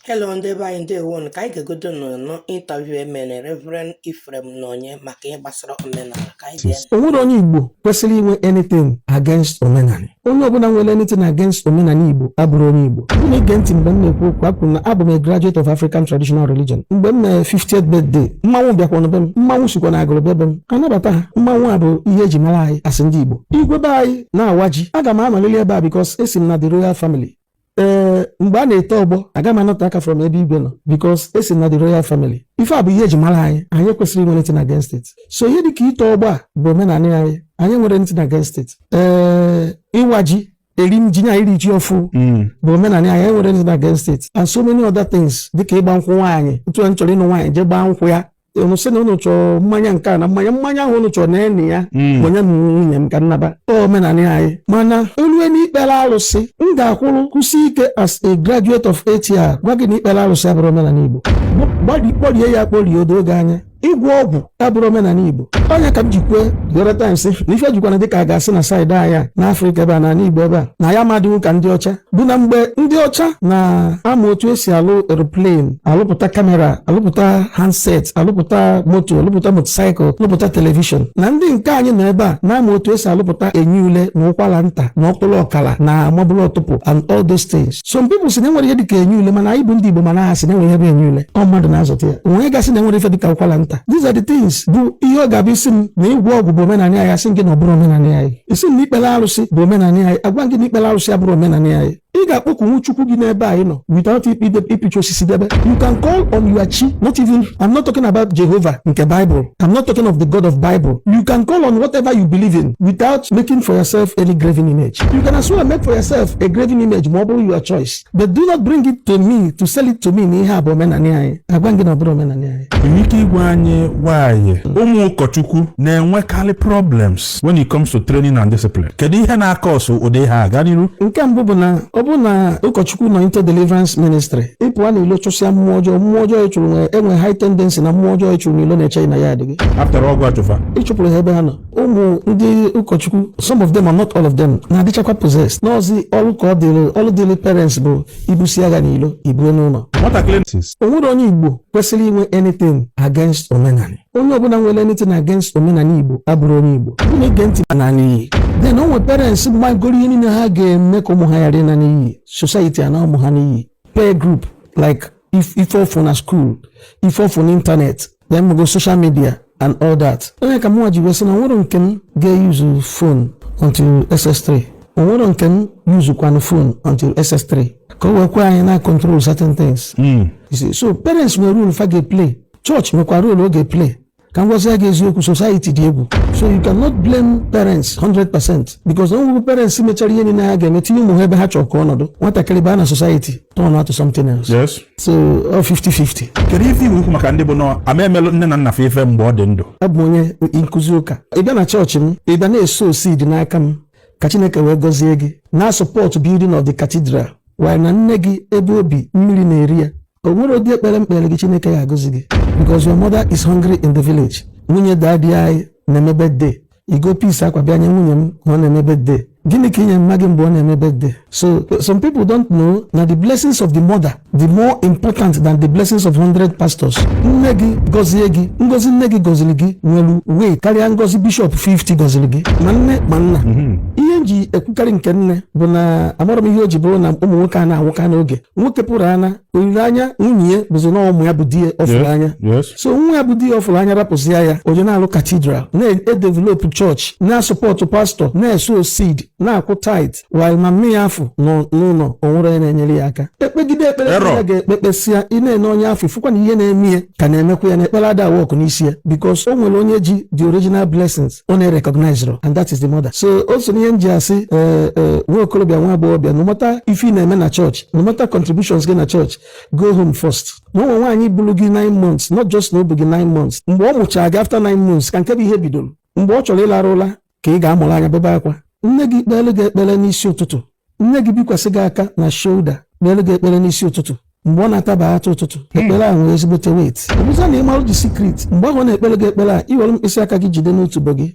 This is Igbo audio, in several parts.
Hello ndị be anyị ndewonu ka anyị gegodu nụ interview emere Reverend Ephraim Ononye maka ihe gbasara omenala ka anyị ga o nwerọ onye Igbo kwesịrị inwe anything against omenala onye ọbụla nwere anything against omenala Igbo abụrọ onye Igbo ọ bụ na i ge ntị mgbe m na-ekwu okwu ekwuru m na abụ m a graduate of African traditional religion mgbe m me 50th birthday mmanwụ bịakwanụ be m mmanwụ sikwa na Agụlụ bịa be m anabata ha mmanwụ a bụ ihe eji mara anyị as ndị Igbo igwe be anyị na-awa ji aga m anọlịlị ebe a because esi m na the royal family ee mgbe a na-eto ọgbọ aga m anọte aka from ebe igwe nọ because esi m na the royal family ife a bụ ihe eji mara anyị anyị ekwesịrọ inwe anything against it so ihe dịka ito ọgbọ a bụ omenala anyị anyị enwerọ anything against it ee ịwa ji eri m ji na iri ji ọfụụ hmm. bụ omenala anyị enwerọ anything against it and so many other things dịka ịgba nkwụ nwaanyị otu a m chọrọ ịnụ nwaanyị jee gbaa nkwụ ya unu sị na unu chọrọ mmanya nke a na mmanya mmanya ahụ unu chọrọ na-enye ya hmm. enye m nwunye m ka m naba omenala anyị mana olue na ikpere alụsị m ga-akwụrụ kwụsị ike as a graduate of ATR gwa gị na ikpere alụsị abụrọ omenala Igbo kpọrie ya kporie odo oge anya ịgwọ ọgwụ abụrọ omenala Igbo ọ nya ka m ji kwue the other times na ife jikwana dịka a ga-asị na side anyị na Afrịka ebe a na Igbo ebe a na anyị ama adịnwu ka ndị ọcha bụ na mgbe ndị ọcha na-ama otu esi alụ aeroplane alụpụta kamera alụpụta handset alụpụta moto alụpụta motosaịkụl alụpụta telivishọn na ndị nke anyị nọ ebe a na-ama otu esi alụpụta enyi ule na ụkwara nta na ọkpụrụ ọkara na mabụrụ ọtụpụ and all those things some people si na enwerọ ihe dịka enyi ule mana anyị bụ ndị Igbo mana ha si na enwere ihe bụ enyi ule ọ mmadụ na-azọta ya onye ga-asị na enwerọ ife dịka ụkwara nta these are the things bụ ihe ọ ga-abụ ị sị m na ịgwọ ọgwụ bụ omenala anyị asị m gị na ọ bụrọ omenala anyị ị sị na ikpere alụsị bụ omenala anyị agwa m gị na ikpere alụsị abụrọ omenala anyị ị ga-akpọkunwu chukwu gị n'ebe ị nọ without ịpịcha osisi debe you can call on your chi not even I'm not talking about Jehovah nke Bible I'm not talking of the God of Bible you can call on whatever you believe in without making for yourself any graven image you can as well make for yourself a graven image ma ọ bụrụ your choice but do not bring it to me to sell it to me na ihe a bụ omenanị anyị agwa m gị na ọ bụrọ omenanị anyị i nwere ike ịgwa anyị why ụmụ ụkọchukwu na-enwekarị problems when it comes to training and discipline kedu ihe na-akọsụ ụdị ihe a ga n'iru nke mbụ bụ na ọ bụrụ na ụkọchukwu nọ into deliverance ministry ị pụa n'ilo chụsịa mmụọ ọjọọ mmụọ ọjọọ ị chụrụ na-enwe high tendency na mmụọ ọjọọ ị chụrụ n'ilo na-eche gị na yard gị after all gị chụ fa ị chụpụrụ ha ebe ha nọ ụmụ ndị ụkọchukwu some of them are not all of them na-adịchakwa possessed n'ọzi ọrụ ka ọ dịrị ọrụ dịrị parents bụ ibusi agha n'ilo ibue n'ụlọ o nwerọ onye igbo kwesịrị inwe anything against omenala onye ọbụla nwere anything against omenala igbo abụrọ onye igbo bụ na i ge ntị na n'iyi then o nwere parents megoro ihe niile ha ga-eme ka ụmụ ha ghara ịna n'iyi society ana ụmụ ha n'iyi peer group like ife ọ fụ na school ife ọ fụ na ịntanetị ya mụgo social media and all that onye ka mụnwa ji wee sị na o nwere nke m ga-eyuzu phone until ss3 o nwere nke m yuzukwanụ phone until ss3 ka o wee kwe anyị na control certain things hmm. so parents nwere role fa ga-eplay chọọchị nwekwa role ọ ga-eplay ka m gwazie gị eziokwu society dị egwu so you cannot blame parents 100% because o nwego parents mechara ihe niile ha ga-eme tinye ụmụ ha ebe ha chọrọ ka ọ nọdụ nwatakịrị baa na society turn out to something else. Yes. so ọ 50-50 kedu ife i nwe ikwu maka ndị bụ na ama emelụ nne na nna fa ife mgbe ọ dị ndụ abụ m onye nkụzi ụka ị bịa na chọọchị m ị bịa na-eso seed n'aka m ka chineke wee gọzie gị na-asọpọtụ building of the cathedral while na nne gị ebe o bi mmiri na-eri ya o nwere ụdị ekpere m kpere gị chineke ya agọzie gị because your mother is hungry in the village nwunye daddy anyị na-eme birthday i go piece akwa bịa nye nwunye m ma ọ na-eme birthday gịnị ka ị nyere mma gị mgbe ọ na-eme birthday so some people don't know na the blessings of the mother dị more important than the blessings of 100 pastors nne gị gọzie gị ngozi nne gị gọziri gị nwere weight karịa ngozi bishọp 50 gọziri gị ma nne ma nna mhm. ihe m ji ekwukarị nke nne bụ na amarọ m ihe o ji bụrụ na ụmụ nwoke a na-anwụka n'oge nwoke pụrụ ana olileanya nwunye ya bụzi na ụmụ ya bụ di ya ọ fụrụ anya so nwa ya bụ di ya ọ fụrụ anya rapụzia ya o jee na-alụ cathedral na-edevelopụ chọọchị na-asọpọtụ pastọ na-eso seed na-akwụ tithe while mama ya afụ nọ n'ụlọ o nwerọ onye na-enyere ya aka e kpegide ekpere a ga-ekpe kpesịa ị na-ene onye afụ ị fụkwa na ihe na-eme ya ka na-emekwa ya na ekpere ada work n'isi ya because o nwere onye ji the original blessings ọ na-erecognizerọ and that is the mother so o so ihe m ji asị eh, eh, nwa okorobịa nwa agbọghọbịa no matter ife ị na-eme na chọọchị no matter contributions gị na church go home first na o nwe nwaanyị buru gị 9 months not just na o bu gị 9 months mgbe ọ mụchara gị after 9 months ka nke bụ ihe bidoro mgbe ọ chọrọ ịlarụ ụla ka ị ga-amụrụ anya bebe akwa nne gị kpeere gị ekpere n'isi ụtụtụ nne gị bikwasị gị aka na shoulder kpeere gị ekpere n'isi ụtụtụ mgbe ọ na-ataba atụ ụtụtụ hmm. ekpere a nwere ezigbote weight ọ bụzie na ị marụ the secret mgbe ahụ ọ na-ekpere gị ekpere a i were mkpịsị aka gị jide n'otubo gị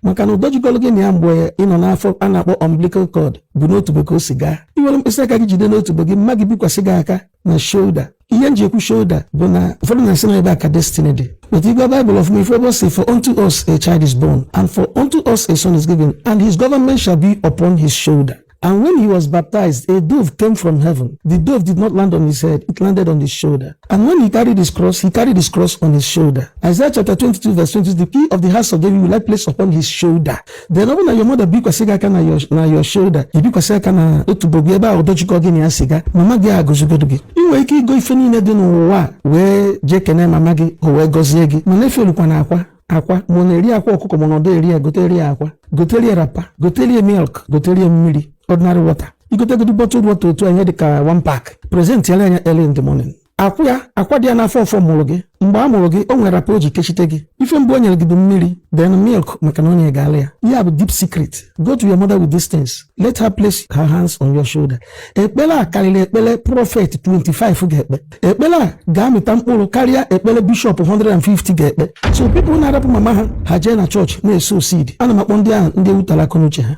maka na ụdọ jikọrọ gị na ya mgbe ị nọ n'afọ a na-akpọ umbilical cord bụ n'otubo ka o si gaa i were mkpịsị aka gị jide n'otubo gị mma gị bikwasị gị aka na shoulder ihe m ji ekwu shoulder bụ na ụfọdụ na-asị na ebe a ka destiny dị but ị gụọ Bible ọfụma ị fụ ebe ọ sị for unto us a child is born and for unto us a son is given and his government shall be upon his shoulder And when he was baptized, a dove came from heaven. The dove did not land on his head, it landed on his shoulder. And when he carried his cross, he carried his cross on his shoulder. Isaiah chapter 22, verse 20 The key of the house of David will I place upon his shoulder. Then ọ bụrụ na your mother bikwasị gị aka na your, na your shoulder. Ị bikwasị aka na otubo gị ebe ahụ ụdọ jikọ gị na ya si ga. Mama gị agọzigodo gị. Ị nwere ike igo ife niile dị n'ụwa wee jee kene mama gị o wee gọzie gị. Mana efe olukwa na akwa. akwa ma ọ na-eri akwa ọkụkọ ma ọ nadị eri ya gotere ya akwa gotere ya rapa gotere ya milk gotere ya mmiri ordinary water igotegodo bottle water otu anyị dị ka one pack presentị ele anya early in the morning akwụ ya akwa dị ya n'afọ ọfọ mụrụ gị mgbe a mụrụ gị o nwere rapa o ji kechite gị ife mbụ o nyere gị bụ mmiri then milk maka na o nye gị ala ya ihe a bụ deep secret go to your mother with these things let her place her hands on your shoulder ekpele a kalịlị ekpele prophet 25 ga-ekpe ekpele a ga-amịta mkpụrụ karịa ekpele bishọp 150 ga-ekpe so people na-arapụ mama ha ha jee na chọọchị na-asow seed ana m akpọ ndị ahụ ndị ewutara akọnuche ha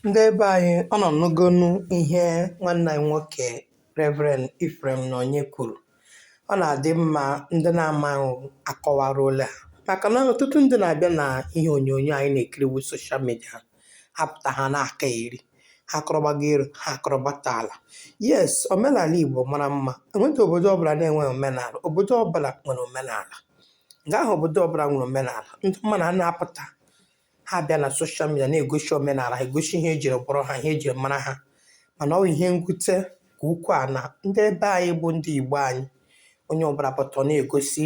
ndị ebe anyị ọnụ anụgonu ihe nwanne anyị nwoke Reverend Ephraim Ononye kwuru ọ na-adị mma ndị na-amaghị akọwaralụ ha maka na ọtụtụ ndị na-abịa na ihe onyonyo anyị na-ekiri wụ social media ha pụta ha na-akọgheri ha akọrọ gbago elu ha akọrọ gbata ala yes omenala igbo mara mma enweghị obodo ọbụla na-enweghị omenala obodo ọbụla nwere omenala nke ahụ obodo ọbụla nwere omenala ndị mmadụ a na-apụta ha bịa na social media na-egosi omenala ha egosi ihe ejiri kpọrọ ha ihe ejiri mara ha mana ọ bụ ihe mwute ka ukwuu a na ndị ebe anyị bụ ndị igbo anyị onye ọbụla pụta ọ na-egosi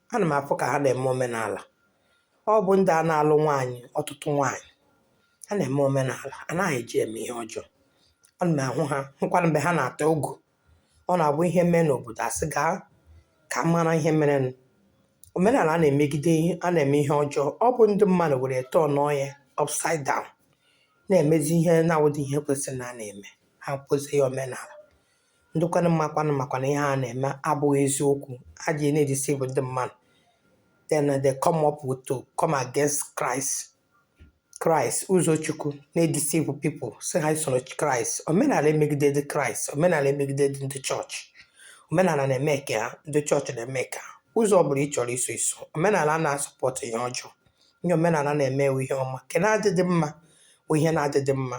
ana m afụ ka ha na-eme omenala ọ bụ ndị a na-alụ nwaanyị ọtụtụ nwaanyị ha na-eme omenala anaghị eji eme ihe ọjọọ ana m ahụ ha hụkwara mgbe ha na-ata ogu ọ na-abụ ihe mee n'obodo asị gaa ka a mara ihe merenụ omenala a na-emegide a na-eme ihe ọjọọ ọ bụ ndị mmadụ were turnuo ya upside down na-emezi ihe na-awụdị ihe kwesịrị na a na-eme ha kpọzie ya omenala ndị kwanụ makwanụ makwa na ihe ha na-eme abụghị eziokwu ha ji na-edeceive ndị mmadụ then they come up with to come against Christ Christ ụzọ Chukwu na-edeceive people sị ha esola Christ omenala emegidedị Christ omenala emegidedị ndị chọọchị omenala na-eme nke ha ndị chọọchị na-eme nke ha ụzọ ọ bụla ị chọrọ iso i so omenala ana asupport ihe ọjọọ ihe omenala na-eme bụ ihe ọma nke na-adịdị mma bụ ihe na-adịdị mma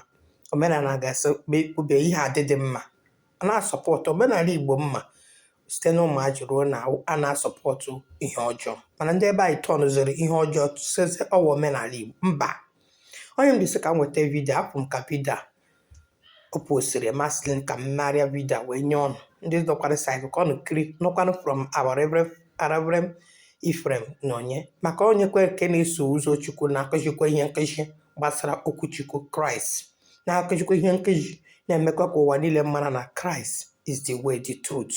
omenala ga-asị kwube ihe a adịdị mma ana asupport omenala igbo m ma site na ụmụazị ruo na ana asupport ihe ọjọọ mana ndị ebe anyị turnziri ihe ọjọọ sịzị ọ wụ omenala igbo mba ọ ihe m ji sị ka m weta video a bụ maka video a O postiri masịlị m ka m narịa video a wee nye ọnụ ndị nọkwara saịtị ka ọnụ kiri nụkwanụ from our Reverend Reverend Ephraim Ononye maka onye kwere nke na-eso ụzọ Chukwu na-akụzikwa ihe nkụzi gbasara okwu Chukwu Christ na-akụzikwa ihe nkụzi na-emekwa ka ụwa niile mara na Christ is the way, the truth